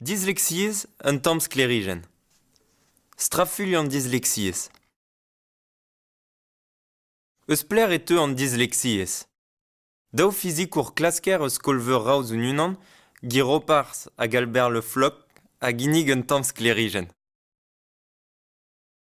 Dislexiezh un tamm sklêrijenn. Strafuilh an dislexiezh. Eus pelec'h e teu an dislexiezh? Daou fizikour klasker eus skol-veur Raoz Unan, Guy Roparz hag Albert Le Floc, a ginnig un tamm sklêrijenn.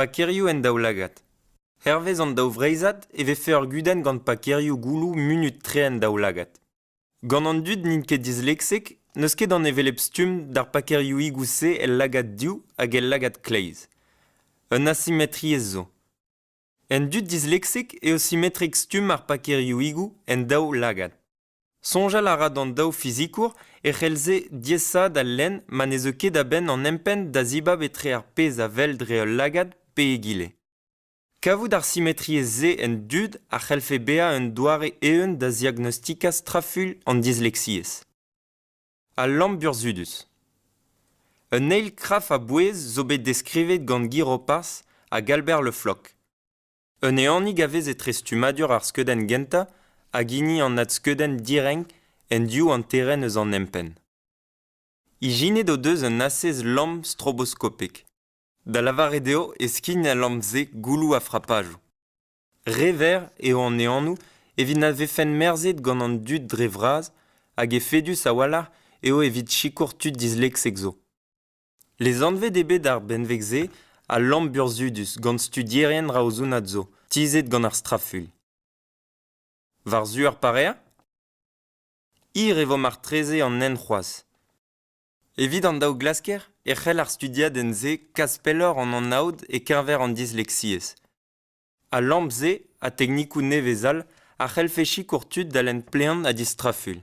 Pakerioù en daoulagad. Hervez an daou vreizhad e vefe ur gudenn gant pakerioù gouloù munut-tre en daoulagad. Gant an dud n'int ket disleksek n'eus ket an hevelep stumm d'ar pakerioùigoù-se el lagad div hag el lagad kleiz. Un asimetriezh zo. En dud disleksek eo simetrek stumm ar pakerioùigoù en daou lagad. Soñjal a ra d'an daou fizikour e c'hellze diaesaat al lenn ma ne zeu ket a-benn an empenn da zibab etre ar pezh a wel dre ul lagad pe egile. Kavout ar simetriezh-se en dud a c'hellfe bezañ un doare eeun da ziagnostikañ strafuilh an dislexiezh. Al lamm burzhudus Un eil kraf a-bouez zo bet deskrivet gant Guy Roparz hag Albert Le Floch. Un ehanig a vez etre stummadur ar skeudenn gentañ hag hini an adskeudenn direnk en div hanterenn eus an empenn. Ijinet o deus un asez lamm stroboskopek, da lavaret eo e skign al lamm-se gouloù ha frapajoù. Re verr eo an ehanoù evit na vefent merzhet gant an dud dre vras hag efedus a-walc'h eo evit sikour tud disleksek zo. Lezanvet eo bet ar benveg-se al lamm burzhudus gant studierien raozounat zo, tizhet gant ar straful. War-zu ar pareañ? Hir e vo martreze an hent c'hoazh. Evit an daou glasker e c'hell ar studiadenn-se kas pelloc'h an anaoud e-keñver an dislexiezh. Al lamp-se ha teknikoù nevez all a c'hellfe sikour tud da lenn plean ha distrafuilh.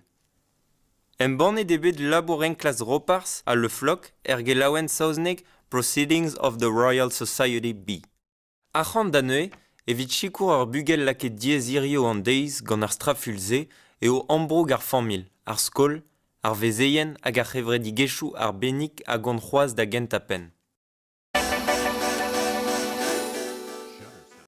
Embannet eo bet labour enklask Roparz ha Le Floc er gelaouenn saoznek Proceedings of the Royal Society B. Arc'hant da neuze, evit sikour ur bugel lakaet diaes hiziv an deiz gant ar strafuilh-se eo ambroug ar familh, ar skol, ar vezeien hag ar c'hevredigezhioù arbennik a gont c'hoazh da gentañ penn.